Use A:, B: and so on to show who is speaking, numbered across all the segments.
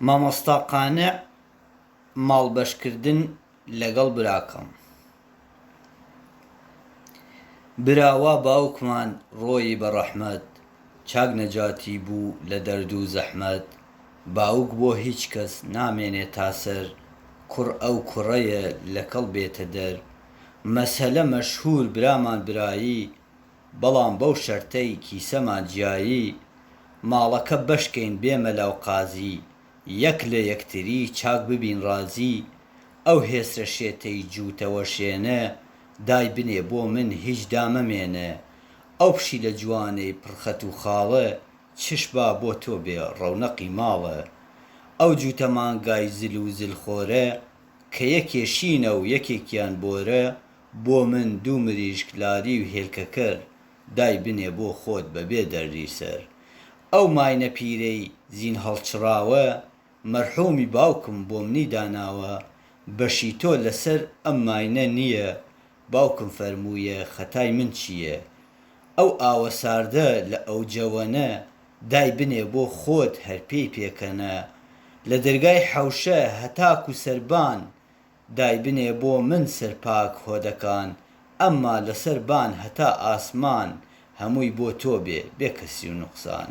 A: مامۆستا قانع ماڵ بەش کردن لەگەڵ براکەم برا وا باوکمان ڕۆیی بە ڕەحمەت چاک نەجاتی بوو لە دەرد و زەحمەت باوک بۆ هیچ کەس نامێنێ تا سەر کوڕ ئەو کوڕەیە لە کەڵ بێتە دەر مەسەلە مەشهوور برامان برایی بەڵام بەو شەرتەی کیسەمان جیایی ماڵەکە بەش کەین بێ مەلاو قازی یەک لە یەکتری چاک ببین ڕازی ئەو هێسرە شێتەی جووتەوە شێنە دای بنێ بۆ من هیچ دا مەمێنە ئەو پشیلە جوانەی پڕ خەت و خاڵە چش با بۆ تۆ بێ ڕەونەقی ماڵە ئەو جووتە مانگای زل و زل خۆرە کە یەکێ شینە و یەکێکیان بۆرە بۆ من دوو مریشک لاری و هێلکەکەر دای بنێ بۆ خۆت بە بێ دەردی سەر. ئەو ماینە پیرەی زین هەڵچڕاوە مەرحومی باوکم بۆمنی داناوە بەشی تۆ لە سەر ئەم ماینە نیە باوکم فەرموویە خەتای من چیە ئەو ئاوە ساردە لە ئەوجەوەنە دای بنێ بۆ خۆت هەر پێی پێکەنە لە دەرگای حەوشە هەتاکو سەربان دایبنێ بۆ من سەر پاک هۆدەکان ئەمما لەسەر بان هەتا ئاسمان هەمووی بۆ تۆ بێ بێ کەسی و نوقسان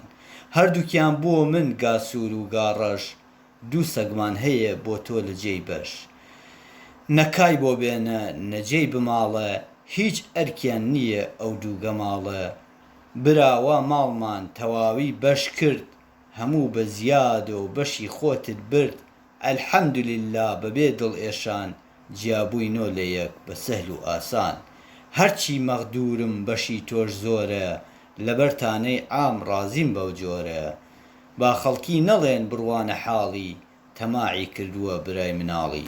A: هەردووکیان بۆ من گا سوور و گا ڕەش دوو سەگمان هەیێ بۆ تۆ لە جێی بەش نە کای بۆ بێنە نە جێی بماڵە هیچ ئەرکیان نییە ئەو دوو گەماڵە برا وا ماڵمان تەواوی بەش کرد هەموو بە زیادۆ بەشی خۆتت برد الحمدللە بەبێ دڵئێشان جیابووینۆ لە یەک بە سەهل و ئاسان هەرچی مەغدوورم بەشی تۆش زۆرە لەبەر تانەی عام ڕازیم بەو جۆرە با خەڵکی نەڵێن بڕوانە حاڵی تەماعی کردووە برای مناڵی.